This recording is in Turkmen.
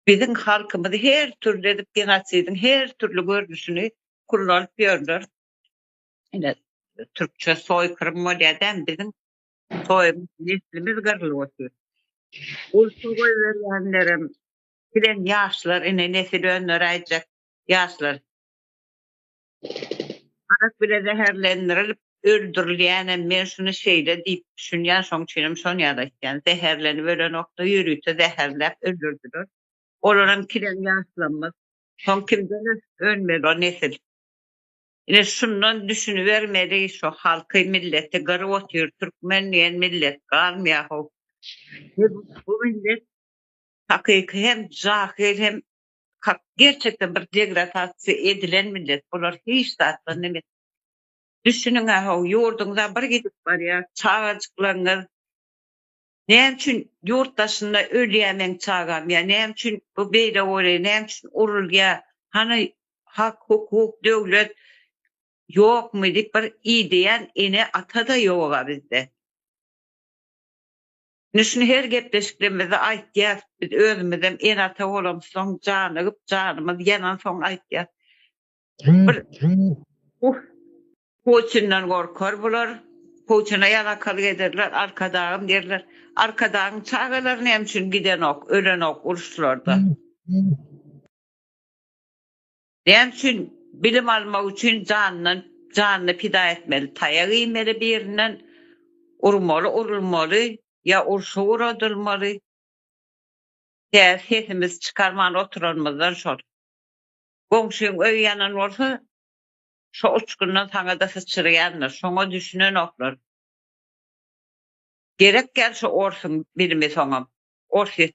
Biziň halkymyzy her türli edip genosidiň her türli görnüşini kullanyp ýörler. Ine türkçe soýkyrym bolýa dämi biziň soýumyz neslimiz gyrlyp otyr. Gurşun goýberýänlerem bilen ýaşlar ine nesil öndüräýjek ýaşlar. Arak bile zäherlendirilip öldürilýänem men şuny şeýle diýip düşünýän şoň üçinem şony ýada aýtýan zäherlenip ölenokda ýörite zäherläp öldürdiler olaram kireň ýaşlamaz soň kimden önmeli o nesil ine şundan düşünibermeli şu halky milleti gyryp otyr türkmen diýen millet galmýa how bu millet hakyky hem jahil hem Hak gerçekden bir degradasiýa edilen millet bular hiç zatdan nemes. Düşüniňä how ýurduňyza bir gidip barýar çagajyklaryňyz näme üçin ýurt daşynda ölýär meň çagam ýa näme üçin bu beýle bolýar näme üçin urulýar hany hak hukuk döwlet ýokmy diýip bir ideýän ene ata da ýoga bizde. Indi şuny her gepleşiklerimizde aýtýas, biz özümizem ene-ata bolamyzsoň, janygyp, janymyz ýanansoň aýtýas. Bir Puçinden gorkar bular, Puçine ýalakalyk ederler, Arkadagym diýerler. Arkadagyň çagalary näme üçin gidenok, ölenok uruşlarda? Näme üçin bilim almak üçin janyndan janyny pida etmeli taýak iýmeli birinden urmaly urulmaly ýa urşa uradylmaly tä sesimizi çykarman oturanymyzdan şol goňşyň öýi ýanan bolsa şo uçgundan saňada syçyrýandyr şoňa düşünenoklar gerek ýaly şu orsuň bilimi soňam ors ýet.